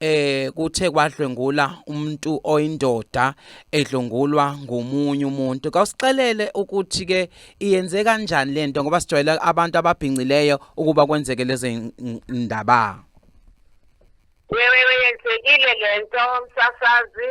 eh kuthe kwadlwengula umuntu oyindoda edlungulwa ngomunye umuntu kawusixelele ukuthi ke iyenze kanjani lento ngoba sijwayele abantu ababhincileyo ukuba kwenzeke lezi ndaba wewe yenzekile lento msasazi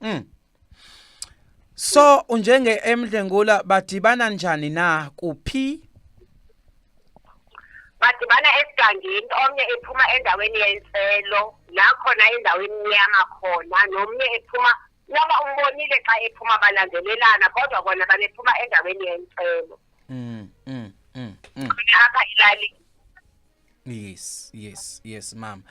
Mm. So unjenge emdlengula badibana njani na kuphi? Badibana esigangeni omnye ephuma endaweni yenselo la khona endaweni emnyama khona nomnye ephuma noma umbonile xa ephuma balandelelana kodwa bona babephuma endaweni yenselo. Mm. mm, mm, mm. Apha ilalini yes yes yes mama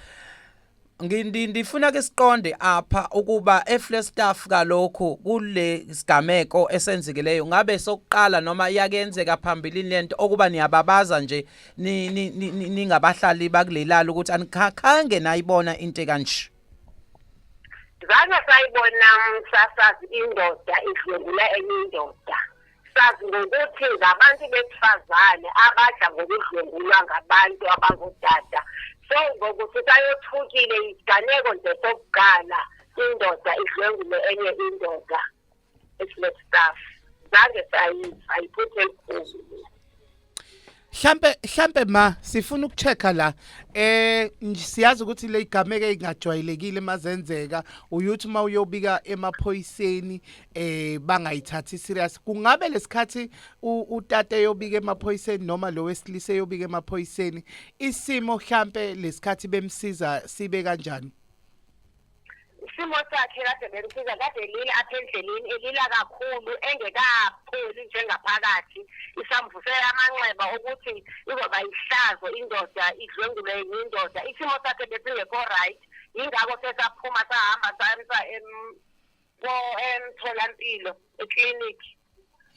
ngindifuna ke siqonde apha ukuba efle staff kalokho kule sigameko esenzikileyo ngabe sokuqala noma yakenzeka phambilini lento okuba niyababaza nje ningabahlali bakulelala ukuthi anikhange nayibona into kanje zange sayibona msasazi indoda idlwengula enye indoda sazi ngokuthi ngabantu besifazane abadla ngokudlwengulwa ngabantu abangodada so ngokuthi sayothukile isiganeko nje sokuqala indoda idlwengule enye indoda it's not stuff zange sayiphuthe enkulu Hlampe hlampe ma sifuna ukuchecka la eh siyazi ukuthi le igameke ingajwayelekile mazenzeka uyuthi uma uyobika emaphoyiseni eh bangayithathi serious kungabe lesikhathi utate yobika emaphoyiseni noma lo wesilisa yobika emaphoyiseni isimo hlampe lesikhathi bemsiza sibe kanjani isimo sakhe kade bemsiza kade elile apha endleleni elila kakhulu engekapholi njengaphakathi isambuse amanxeba ukuthi izoba yihlazo indoda idlwengulwe yindoda isimo sakhe besingekho right yingakho sesaphuma sahamba samsa ko emtholampilo eclinic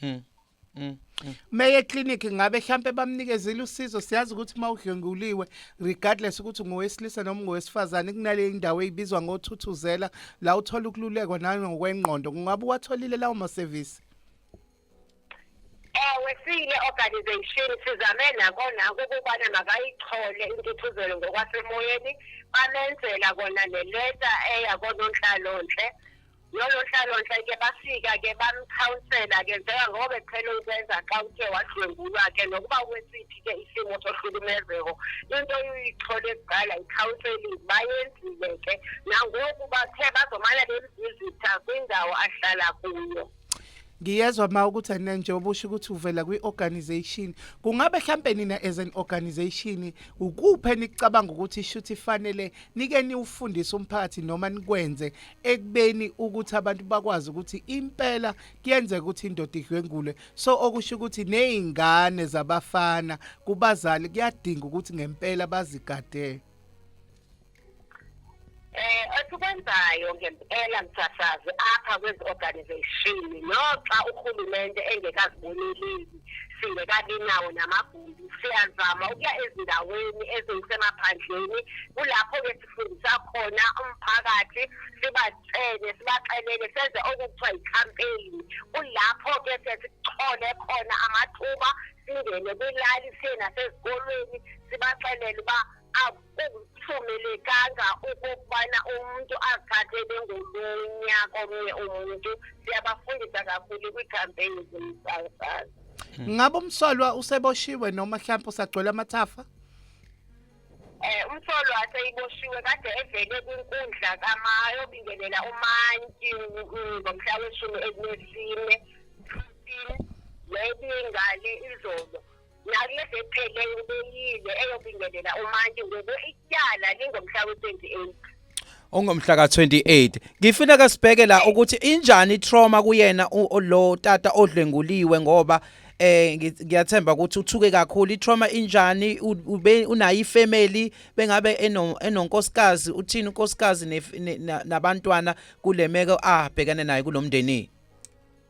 mm. Mm. mm. Meye clinic ngabe mhlambe bamnikezile usizo siyazi ukuthi mawudlenguliwe regardless ukuthi ngowesilisa noma ngowesifazane kunale indawo ezibizwa ngothuthuzela la uthola ukululekwa nangokwenqondo kungabe watholile lawo ma service Ewe siyile organization sizame nakona ukubana makayithole intuthuzelo ngokwasemoyeni bamenzela kona neleta eya kononhlalonhle nolonhlalonhle ke bafika ke bamkhawunsela ke njenga ngoba bephela ukwenza xa uthe wadlwengulwa ke nokuba kwesiphi ke isimo sohlukumezeko into uyithole kuqala ikhawunseling bayenzile ke nangoku bathe bazomane bemvizitha kwindawo ahlala kuyo ngiyezwa ma ukuthi anina njengoba usho ukuthi uvela kwi-organization kungabe hlampe nina as an organization ukuphi enicabanga ukuthi ishuthi ifanele nike niwufundise umphakathi noma nikwenze ekubeni ukuthi abantu bakwazi ukuthi impela kuyenzeka ukuthi indoda idlwengule so okusho ukuthi nezingane zabafana kubazali kuyadinga ukuthi ngempela bazigadele Eh esikwenzayo ngempela mthathazi apha kwezi organization noxa uhulumende engekaziboneleli singekabi nawo namagumbi siyazama ukuya ezindaweni ezisemaphandleni kulapho ke sifundisa khona umphakathi sibatshele sibaxelele senze okuthiwa yicampaign kulapho ke sesithole khona amathuba singene kwilali siye nasezikolweni sibaxelele uba akuvumelekanga ukubana umuntu azithathe bengolunya komnye umuntu siyabafundisa kakhulu kwiikhampeyini zomsakazi Hmm. Ngabe umsolwa useboshiwe noma mhlawumbe usagcwele amathafa? Eh umsolwa aseyiboshiwe kade evele kwinkundla kama yobingelela umanti ngomhla weshumi elinesine 15 leyingale izolo nakulezi epheleyo beyile eyobingelela umantshi ngoku ityala lingomhla we-28 ongomhla ka-28 ngifuna kasibheke la ukuthi injani i-trauma kuyena lo tata odlenguliwe ngoba eh ngiyathemba ukuthi uthuke kakhulu itrauma injani ube unayo ifamily bengabe enonkosikazi uthini unkosikazi nabantwana kulemeko abhekane nayo kulomndeni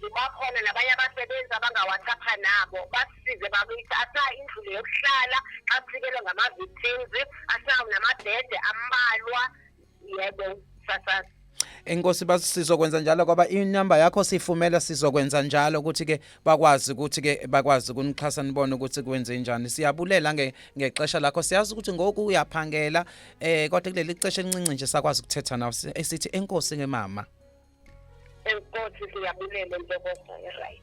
zibakhona nabanye abasebenzi abangawacapha nabo basisize bakithi asaa indlule yokuhlala xa sifikelwe ngama-victims asaa namabhede ambalwa yebo sasasa Enkosi basizokwenza njalo ngoba inamba yakho sifumela sizokwenza njalo ukuthi ke bakwazi ukuthi ke bakwazi kunixhasa nibone ukuthi kwenze njani siyabulela nge ngexesha lakho siyazi ukuthi ngoku uyaphangela eh kodwa kuleli xesha elincinci nje sakwazi ukuthetha nawe esithi enkosi ngemama enkosi siyabulele ntokozo right